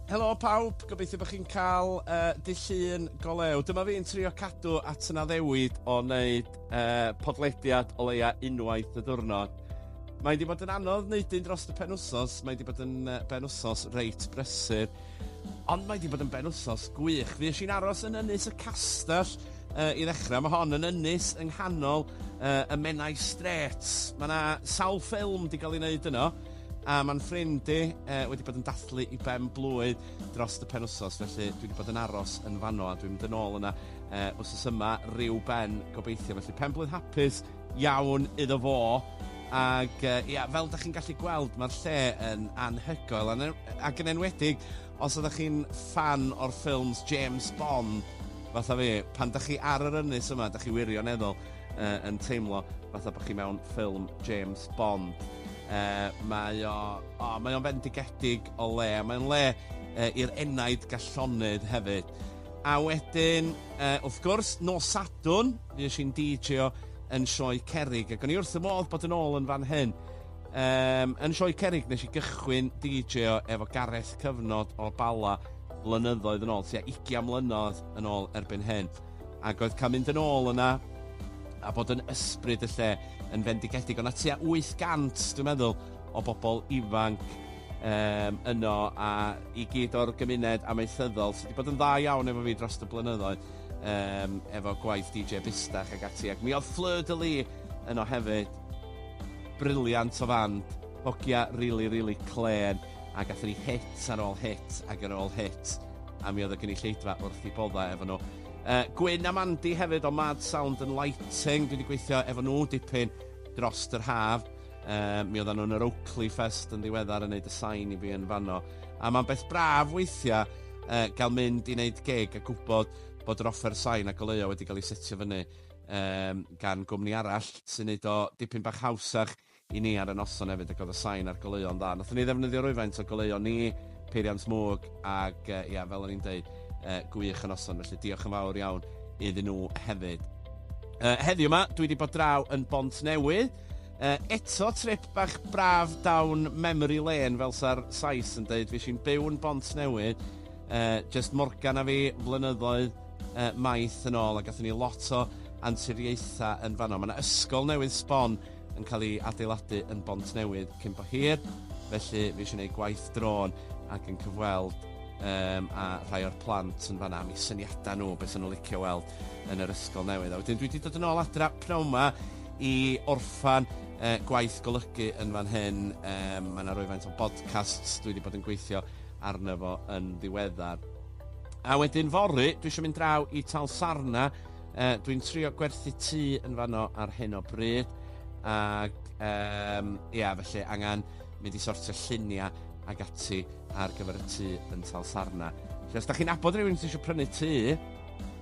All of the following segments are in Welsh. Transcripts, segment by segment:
Helo pawb, gobeithio bod chi'n cael uh, dy llun go lew. Dyma fi'n trio cadw at yna ddewid o wneud uh, podlediad o leia unwaith y ddwrnod. Mae wedi bod yn anodd wneud un dros y pen wsos, mae wedi bod yn uh, ben wsos reit brysur, ond mae wedi bod yn ben wsos gwych. Fi eisiau'n aros yn ynys y castell uh, i ddechrau. Mae hon yn ynys yng nghanol uh, y Menai Straits. Mae yna sawl ffilm wedi cael ei wneud yno. A mae'n ffrind i yy wedi bod yn dathlu i ben blwydd dros y penwsos felly dwi 'di bod yn aros yn fanno a dwi'n mynd yn ôl yna yy wsos yma ryw ben gobeithio felly pen-blwydd hapus iawn iddo fo ag yy ia fel 'dach chi'n gallu gweld ma'r lle yn anhygoel a ne- ac yn enwedig os oddach chi'n ffan o'r ffilms James Bond fatha fi pan 'dach chi ar yr ynys yma 'dach chi wirioneddol uh, yn teimlo fatha bod chi mewn ffilm James Bond. Uh, mae o, o mae o'n fendigedig o le, mae'n le uh, i'r enaid gallonyd hefyd. A wedyn, uh, wrth gwrs, nos Sadwn, fi eisiau'n DJ o yn sioe Cerig, ac o'n i wrth y modd bod yn ôl yn fan hyn. Um, yn sioe Cerig, nes i gychwyn DJ o efo Gareth Cyfnod o Bala blynyddoedd yn ôl, tua 20 mlynedd yn ôl erbyn hyn. Ac oedd cael mynd yn ôl yna a bod yn ysbryd y lle yn fendigedig. Oedd 'na tua 800 dwi'n meddwl o bobl ifanc yym yno a i gyd o'r gymuned amaethyddol sy 'di bod yn dda iawn efo fi dros y blynyddoedd yym efo gwaith DJ Bustach ac ati ac mi oedd Fleur de Lis yno hefyd. Briliant o fand, hogia rili rili clên. a gathon ni hit ar ôl hit ac ar ôl hit, a mi oedd y gynulleidfa wrth i boddau efo nhw. Uh, Gwyn a Mandy hefyd o Mad Sound and Lighting, dwi wedi gweithio efo nhw dipyn dros yr haf. Uh, mi oedden nhw'n yr Oakley Fest yn ddiweddar yn neud y sain i fi yn fanno. A mae'n beth braf weithiau uh, gael mynd i wneud gig a gwybod bod yr offer sain a goleuo wedi cael ei setio fyny um, gan gwmni arall sy'n neud o dipyn bach hawsach i ni ar y noson efyd ac oedd y sain a'r goleuo'n dda. Nathon ni ddefnyddio rwyfaint o goleuon ni, peiriant mwg ac yy ia fel o'n i'n deud yy gwych y noson felly diolch yn fawr iawn iddyn nhw hefyd. Yy heddiw yma dwi wedi bod draw yn Bont Newydd yy eto trip bach braf down memory lane fel sa'r Sais yn deud fues i'n byw yn Bont Newydd yy jyst Morgan a fi flynyddoedd yy maith yn ôl a gathon ni lot o anturiaethau yn fanno. Mae 'na ysgol newydd sbon yn cael ei adeiladu yn Bontnewydd cyn bo hir, felly fi eisiau gwneud gwaith drôn ac yn cyfweld um, a rhai o'r plant yn fanna am eu syniadau nhw, beth nhw'n licio weld yn yr ysgol newydd. A wedyn dwi wedi dod yn ôl adra pnawn yma i orffan uh, gwaith golygu yn fan hyn. Um, mae yna rwyfaint o podcasts dwi wedi bod yn gweithio arno fo yn ddiweddar. A wedyn fory, dwi eisiau mynd draw i Tal Sarna Yy dwi'n trio gwerthu tŷ yn fanno ar hyn o bryd ac yym ia felly angen mynd i sortio llunia ag ati ar gyfer y tŷ yn Talsarna. Felly os da chi'n abod rhywun sy'n eisiau prynu tŷ yy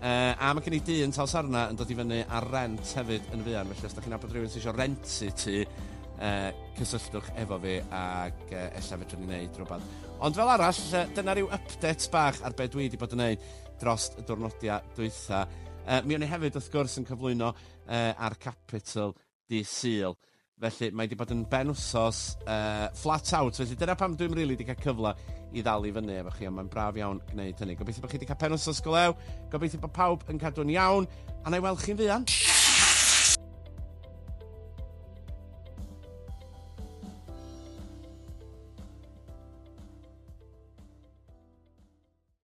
a mae gen i dŷ yn Talsarna yn dod i fyny ar rent hefyd yn fuan felly os da chi'n abod rhywun sy'n eisiau rentu tŷ yy cysylltwch efo fi ac yy ella fedrwn ni wneud rhywbeth. Ond fel arall yy dyna rhyw update bach ar be dwi wedi bod yn wneud. drost y dwrnodia dwytha. Yy mi o'n i hefyd wrth gwrs yn cyflwyno yy ar Capital dy Sul. Felly mae 'di bod yn ben wsos yy flat out felly dyna pam dwi'm rili 'di cael cyfle i ddal i fyny efo chi ond mae'n braf iawn gwneud hynny. Gobeithio bod chi 'di cael pen wsos go lew, gobeithio bod pawb yn cadw'n iawn a na i weld chi'n fuan.